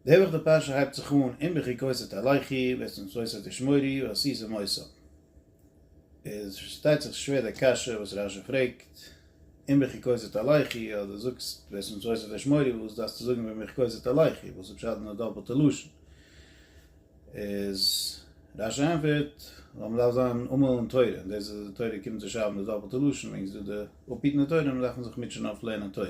די אויבערשטע פרשה הייבט זיך אן אין בכי כוסת עליכי ואת מצותי תשמורי ועשי זמוסו. איז פארשטייט זיך שווער די קשיא וואס רשי פרעגט, אין בכי כוסת עליכי אז דו זאגסט ואת מצותי תשמורי וואס דארפסטו זאגן ווען בכי כוסת עליכי, וואס איז פשט אין די דאפלטע לשון? איז רשי ענפערט, ווייל מען דארף זיין עמל אין תורה, און דאס איז די תורה קומט צו שרייבן די דאפלטע לשון, וועגן ס'איז דא די אפהיטן די תורה, דארף מען זיך מוטשען אויף לערנען תורה.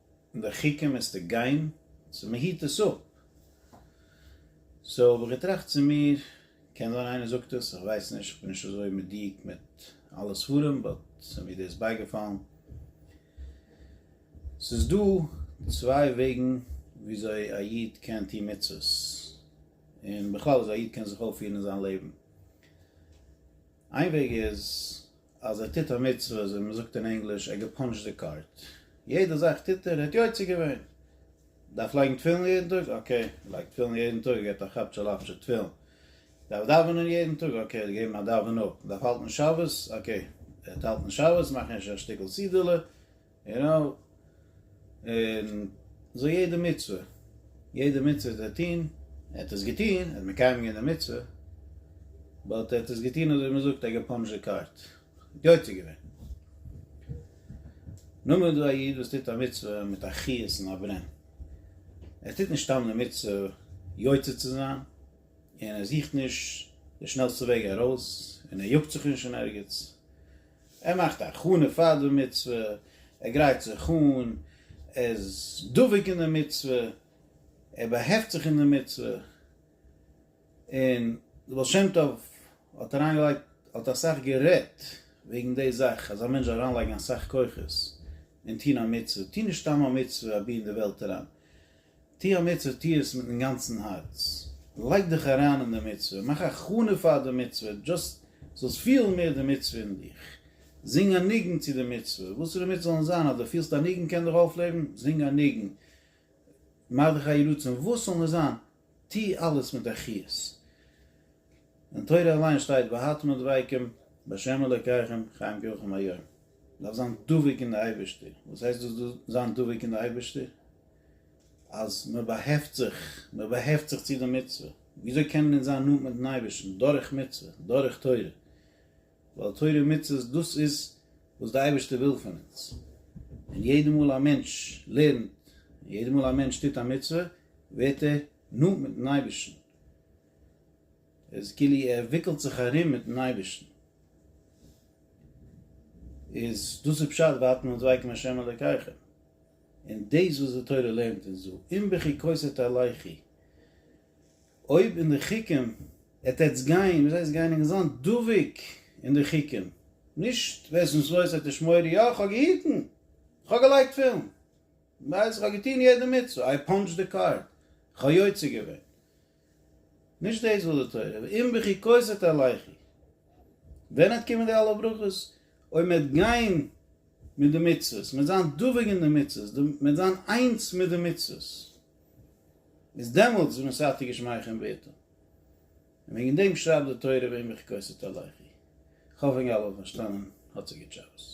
און די חוקים מיסטו גיין, סאו מען היט עס אפ, סאו האב איך געטראכט צו מיר, קען זיין איינער זאגט עס, איך ווייס נישט, איך בין נישט אזוי מדויק מיט אלע ספרים, באט ס'איז מיר דאס בייגעפאלן, ס'איז דא צוויי וועגן וויאזוי א איד קען טון מצוות, און בכלל וויאזוי א איד קען זיך אויפפירן אין זיין לעבן. איין וועג איז אז ער טוט א מצוה אזוי ווי מען זאגט אין ענגליש ער געפאנטשט די קארט. יעדע זאך טוט ער, ער האט יוצא געווען. דארף לייגן תפילין יעדן טאג? אקעי, ער לייגט תפילין יעדן טאג, ער געבט א כאפ של אפטשע תפילין. דארף דאווענען יעדן טאג? אקעי, ער האט געגעבן א דאווען אפ. דארף האלטן שבת? אקעי, ער האט האלטן שבת, מאכן אפשר א שטיקל סידי'לע. יו נאו, און אזוי יעדע מצוה, יעדע מצוה וואס ער וועט טון, ער האט עס געטון, ער האט מקיים געווען די מצוה, באט ער האט עס געטון אזוי ווי מען זאגט, ער האט געפאנזשעט קארט, יוצא געווען. נאר מען האט דא א איד וואס טוט א מצוה מיט א חיות און א ברען, ער טוט נישט סתם די מצוה יוצא צו זיין, און ער זוכט נישט די שנעלסטע וועג ארויס, און ער יאגט זיך נישט אין ערגעץ, ער מאכט א הכנה פאר די מצוה, ער גרייט זיך אן, ער איז דבוק אין די מצוה, ער באהעפט זיך אין די מצוה, און די בעל שם טוב האט אריינגעלייגט, האט אסאך גערעדט וועגן די זאך, אז א מענטש זאל אריינלייגן אסאך כוחות אין טון א מצוה, טו נישט סתם א מצוה אבי אין די וועלט אריין, טו א מצוה, טו עס מיטן גאנצן הארץ, לייג דיך אריין אין די מצוה, מאך הכנה פאר די מצוה, דשאסט זאלסט פילן מער די מצוה אין דיך, זינג א ניגון צו די מצוה, וואס ס'דערמיט זאל נישט זיין, אז דו פילסט א ניגון קען דיך אויפלעבן, זינג א ניגון, מאך דיך א יהי רצון, וואס ס'זאל נישט זיין, טו אלעס מיט א חיות. אין תורה אליין שטייט והתמד דביקם בהשם אלוקיכם חיים כיוכם היום, מ'דארף זיין דבוק אין די אייבערשטער, וואס הייסט דאס זיין דבוק אין די אייבערשטער? אז מען באהעפט זיך, מען באהעפט זיך צו די מצוה, וויאזוי קענען אונז זיין נאנט מיט'ן אייבערשטן? דורך מצוה, דורך תורה, ווייל תורה און מצוות דאס איז וואס די אייבערשטער וויל פון אונז, און יעדע מאל א מענטש לערנט, און יעדע מאל א מענטש טוט א מצוה, ווערט ער נאנט מיט'ן אייבערשטן, איז כאילו ער וויקלט זיך ארום מיט'ן אייבערשטן, איז דאס איז פשט ואתם הדבקים השם אלוקיכם. און דאס וואס די תורה לערנט אונז דא, אם בחוקותי תלכי, אויב אין די חוקים העט עטס גיין, וואס הייסט גיין, און זיין דבוק אין די חוקים, נישט ווער עס נישט לויפט וועט ער שמור, יא כ'האב געהיטן, כ'האב געלייגט תפילין, כ'האב געטון יעדע מצוה, איי פאנטשד די קארד, כ'האב יוצא געווען, נישט דאס וויל די תורה, ואם בכי כוסית עליכי, ווען וועט קומען די אלע ברכות? אויב מען וועט גיין מיט די מצוות, מען וועט זיין דבוק אין די מצוות, מען וועט זיין איינס מיט די מצוות, איז דעמאלטס איז מען סייעתא גשמיא חן בעתו, און וועגן דעם שרייבט די תורה ואם בכי כוסית עליכי, כ'האף אינגאלע האבן פארשטאנען, האט זיך גוט שבת.